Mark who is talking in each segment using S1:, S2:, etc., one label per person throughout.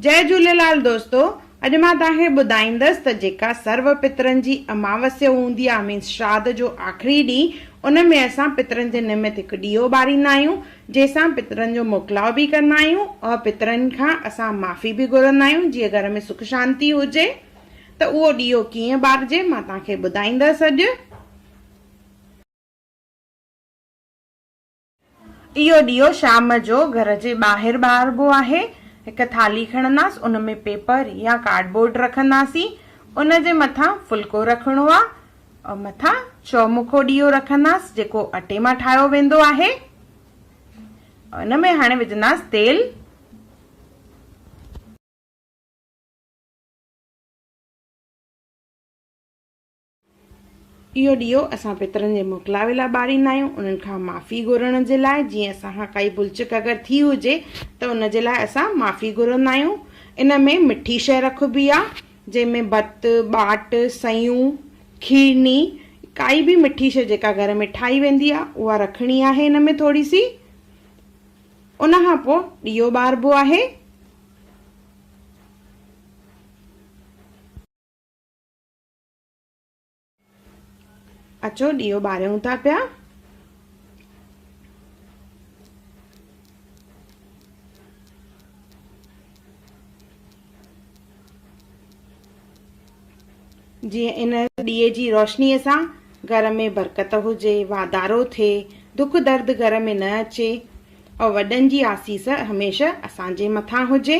S1: جئه جهوليلال دوستو اڄ مان توهان کي ٻڌائيندس ته جيڪا سرو پترن جي اماوسيا هوندي آهي مينس شراڌ جو آخري ڏينهن ان ۾ اسان پترن جي نمت هڪ ڏيئو ٻاريندا آهيون جنهن سان پترن جو موڪلاء به ڪندا آهيون ۽ پترن کان اسان معافي به گهرندا آهيون جيئن گهر ۾ سک شانتي هجي ته اهو ڏيئو ڪيئن ٻارجي مان توهان کي ٻڌائيندس اڄ. اهو ڏيئو شام جو گهر جي ٻاهر ٻاربو آهي. هڪ ٿالهي کڻنداس ان ۾ پيپر يا ڪارڊ بورڊ رکنداسين. ان جي مٿان ڦلڪو رکڻو آ. مٿان چؤمکو ڏيئو رکنداس جيڪو اٽي مان ٺاهيو ويندو آهي. ان ۾ هاڻي وجهنداس تيل. اهو ڏيئو اسان پترن جي موڪلائي لاء ٻاريندا آهيون، انهن کان معافي گهرڻ جي لاء، جيئن اسان کان ڪائي ڀل چڪ اگر ٿي هجي ته ان جي لاء اسان معافي گهرندا آهيون. ان ۾ مٺي شيء رکبي آهي، جنهن ۾ ڀت، ٻاٽ، سيون، کيرني، ڪائي به مٺي شيء جيڪا گهر ۾ ٺاهي ويندي آهي، اها رکڻي آهي ان ۾ ٿوري سي. ان کان پوء ڏيئو ٻاربو آهي. اچو ڏيئو ٻاريون ٿا پيا جيئن ان ڏيئي جي روشنيء سان گھر ۾ برڪت هجي واڌارو ٿئي دک درد گھر ۾ نه اچي او وڏن جي آسيس هميشه اسان جي مٿان هجي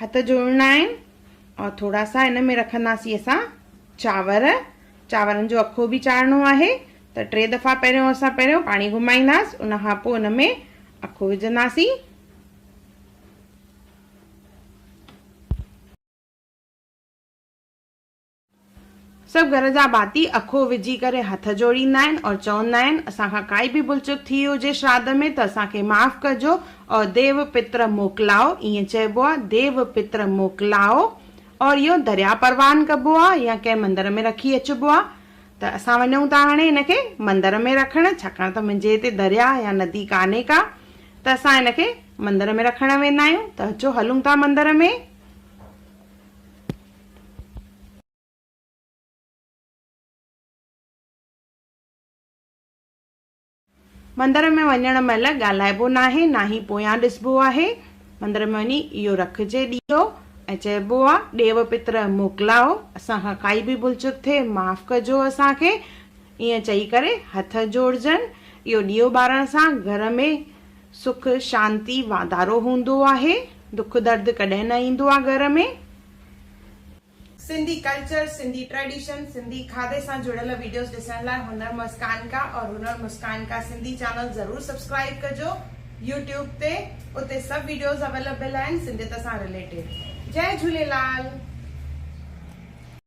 S1: هٿ جوڙڻا آهن ۽ ٿورا سا ان ۾ رکنداسين اسان چانور چانورن جو اکو به چاڙهڻو آهي ته ٽي دفعا پهريون اسان پهريون پاڻي گهمائينداس ان کان پوء ان ۾ اکو وجهنداسين سڀ گهر جا ڀاتي اکو وجهي ڪري هٿ جوڙيندا آهن اور چوندا آهن اسان کان ڪائي به ڀل چڪ ٿي هجي شراڌ ۾ ته اسان کي معاف ڪجو اور ديو پتر موڪلاء ائين چئبو آهي ديو پتر موڪلاء اور اهو درياء پروان ڪبو آهي يا ڪنهن مندر ۾ رکي اچبو آهي ته اسان وڃون ٿا هاڻي هن کي مندر ۾ رکڻ ڇاڪاڻ ته منهنجي هتي درياء يا ندي ڪانهي ڪا ته اسان هن کي مندر ۾ رکڻ ويندا آهيون ته اچو هلون ٿا مندر ۾ مندر ۾ وڃڻ مهل ڳالهائبو ناهي، ناهي پويان ڏسبو آهي. مندر ۾ وڃي اهو رکجي ڏيئو ۽ چئبو آ، ڏيو پتر موڪلاء، اسان کان ڪائي به ڀل چڪ ٿئي معاف ڪجو اسان کي. ائين چئي ڪري هٿ جوڙجن. اهو ڏيئو ٻارڻ سان گهر ۾ سک شانتي واڌارو هوندو آهي. دک درد ڪڏهن نه ايندو آ گهر ۾. سنڌي ڪلچر، سنڌي ٽريڊيشن، سنڌي کاڌي سان جڙيل ويڊيوز ڏسڻ لاء هنر مسڪان ڪا اور هنر مسڪان ڪا سنڌي چينل ضرور سبسڪرائيب ڪجو يوٽيوب تي اتي سڀ ويڊيوز اويلبل آهن سنڌيت سان رليٽيڊ جئي جهوليلال.